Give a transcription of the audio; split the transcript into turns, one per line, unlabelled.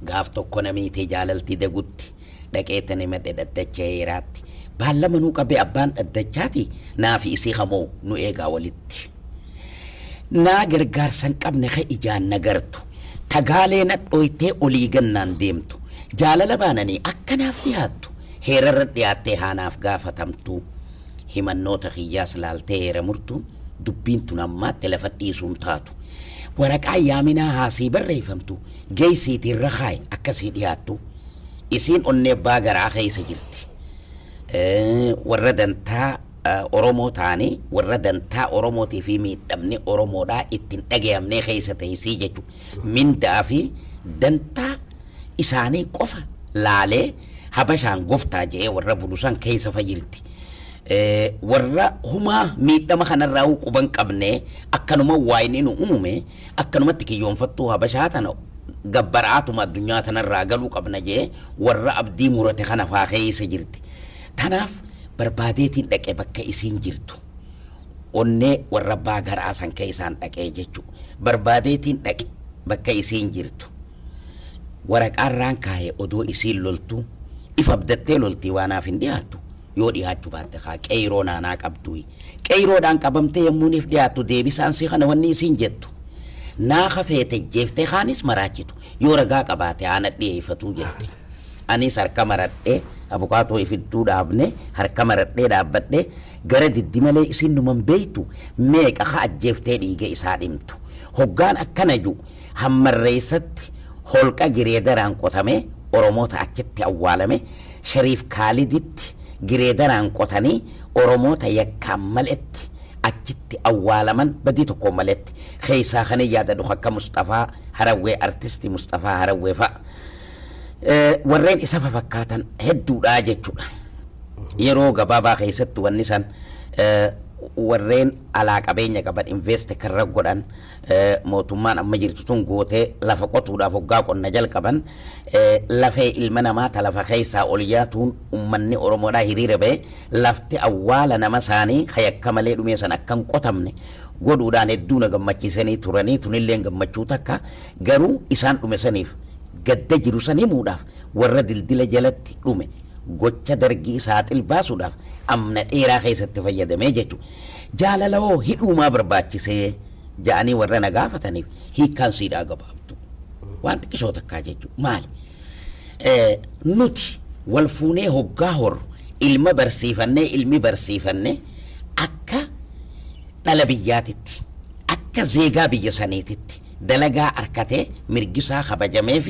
Gaaf tokko namii tee jaalalti degutti dhaqee tanimadhe dhaddacha heeraatti baallama nu qabe abbaan dhaddachaati naafi isii hamoo nu eegaa walitti naa gargaarsan qabne ka ijaan nagartu tagaalee nadhooytee olii gannaan deemtu jaalala baananii akka naaf dhiyaattu heerarra dhiyaattee haa naaf gaafatamtuu himannoota kiyyaas laaltee heera murtuun dubbiin tun ammaatti lafa dhiisuun taatu. Waraqaan yaaminaa haa sii barreeyfamtu geeysiitii irra kaayi akka sii dhiyaattu. Isiin onnee abbaa garaa keeysa jirti. Warra dantaa Oromoo taane, warra dantaa Oromootii fi miidhamni Oromoodhaa itti hin dhagayamnee keeysa teeysii jechu. Mindaa fi dantaa isaanii qofa laalee Habashaan goftaa je'ee warra bulu san keessafa jirti. Eh, Warra humaa miidhama kanarraa huu quban qabnee akkanuma waayni nu uume akkanumatti kiyyoonfattuu Habashaa tana gabbaraatuma addunyaa tanarraa galuu qabna je'ee warra abdii murate kana faa keessa jirti. Tanaaf barbaadeetiin dhaqe bakka isiin jirtu. onnee warra abbaa garaa san keessaan dhaqee jechuudha. Barbaadeetiin dhaqe bakka isiin jirtu. Waraqaa irraan kaaye odoo isiin loltuu if abdattee loltii waa naaf hin dhiyaattu yoo dhiyaachu baatte kaa qeeyroo naanaa qabduuyi qeeyroodhaan qabamtee yommuu niif dhiyaattu deebisaan sii kana wanni isiin jettu naa ka feete jeeftee kaanis maraachitu yoo ragaa qabaate haa nadhiyeeyfatuu jette aniis harka maradhee abukaatoo ifidduu dhaabne harka maradhee dhaabbadhee gara diddi malee isiin numan beeytu meeqa ka ajjeeftee dhiiga isaa dhimtu hoggaan akkana ju Hammarreessatti holqa gireedaraan qotamee Oromoota achitti awwaalame, Shariif Kaaliditti gireedaraan qotanii Oromoota yakkaan maletti achitti awwaalaman badii tokkoon maletti. Keessaa kanin yaadadhu kan akka Musxafaa Harawwee, Artisti Musxafaa Harawwee fa'a. Warreen isa fafakkaatan hedduudha jechuudha. Yeroo gabaabaa keessatti wanni san warreen alaa qabeenya qaban invest karra godhan mootummaan amma jirtu tun goote lafa qotuudhaaf hoggaa qonna jalqaban lafee ilma namaa ta lafa keessaa ol yaatuun ummanni Oromoodhaa hiriira ba'e lafti awwaala nama isaanii ka yakka malee dhumee san akka hin qotamne godhuudhaan hedduu na gammachiisanii turanii tunilleen gammachuu takka garuu isaan dhume saniif gadda jiru san himuudhaaf warra dildila jalatti dhume gocha dargii saaxil baasuudhaaf amna dheeraa keessatti fayyadamee jechuudha. Jaalala hoo hidhuu maa barbaachisee? ja'anii warra na gaafataniif hiikkaan siidhaa gabaabdu. Waan xiqqishoo takkaa jechuudha. Maali? Eh, Nuti wal fuunee hoggaa horru ilma barsiifannee ilmi barsiifanne akka dhala biyyaatitti akka zeegaa biyya saniititti dalagaa arkatee mirgisaa kabajamee fi